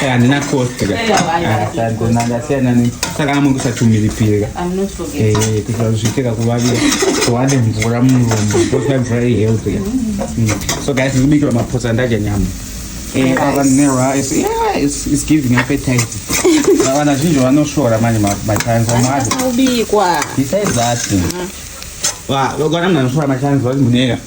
handina kostakaasiyananesaka amwe kusatumiripirea kuitira kuzviitira kuvavira kuwane mvura murombo kosa mvura ihealthy mm. mm. so guys ndikubikirwa mapotsa ndadya nyama vana zhinji vanosvora manje matanzomwaobikwa besides that vana mnhu anosvora matanzwa muneka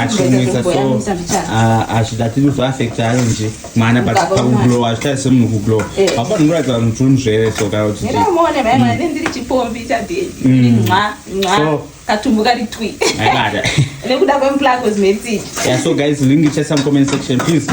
achinwisa so azvida tiri kuzoafekta ari nje mwana but pakuglowa azvitari semunhu kuglowa apo ndinoratidza vanhu kuti unzvere so kana kuti so guys link ichaisa mucomment section please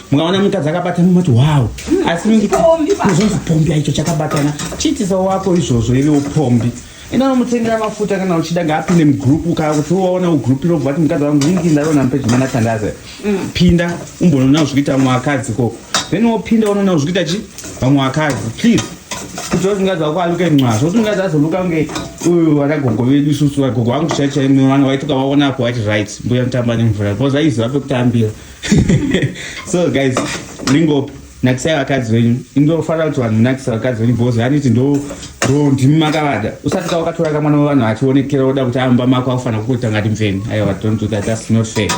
mungaona mukadzi akabatana mumati wow asi muzonzi pombi aicho chakabatana chiitisa wako izvozvo ive upombi ina mutengera mafuta kana uchida ngaapinde mugroup kaa kuti waona ugroup irobva vati mukadzi wangu ingi ndaona mupejimana tandaze mm. pinda umbonoona zvikuita vamwe vakadzi koko then wopinda unoona zvikuita chi vamwe vakadzi please kuti wati mukadzi wako aluke mwazvo kuti mukadzi azoluka kunge uyu wana gogo vedu isusu vagogo vangu chaichaimwe vana vaituka vaonapo vati right mbuya mutamba nemvura bcause aiziva pekutambira so guys ringo nakisai vakadzi venyu indofanira kuti vanhu nakisa vakadzi venyu bhozi haniti ndo ndo ndimi makavada usati ka wakatora ka mwana wevanhu achionekera oda kuti amba mako akufanira kukuita ngati mveni aiwa don't do that that's not fair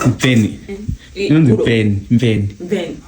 mveni inonzi mveni mveni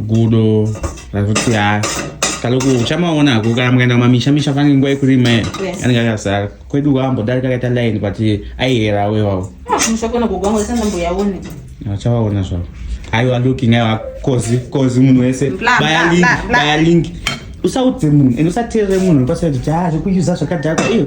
gudo rakuti ha kaloku uchamaona hako kana mukaenda kumamisha misha fanike nguva yekurima anenge akazara kwedu kwambodarika kaita line but aihera wewawo achavaona zvavo aiwa looking aiwa kozi kozi munhu wese baya link baya link usaudze munhu and usateerere munhu pasaiti ti ha zvekuuza zvakadhakwa iyo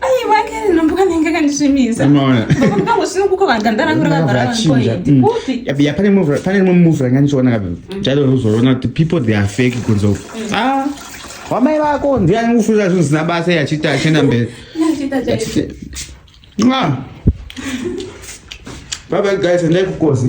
aiwa kene nombuka nenge kandisvimisa ndango sino kuko vaganda rangu rakagarakupi pane rimwe move ranga ndichiona kapi mm. chairo rokuzorona kuti people they are fake kunzo mm. ah, wamai vako ndiye anikufunira zvinhu zvisina basa yachiti achienda mberi ah. baba guys endai kukozi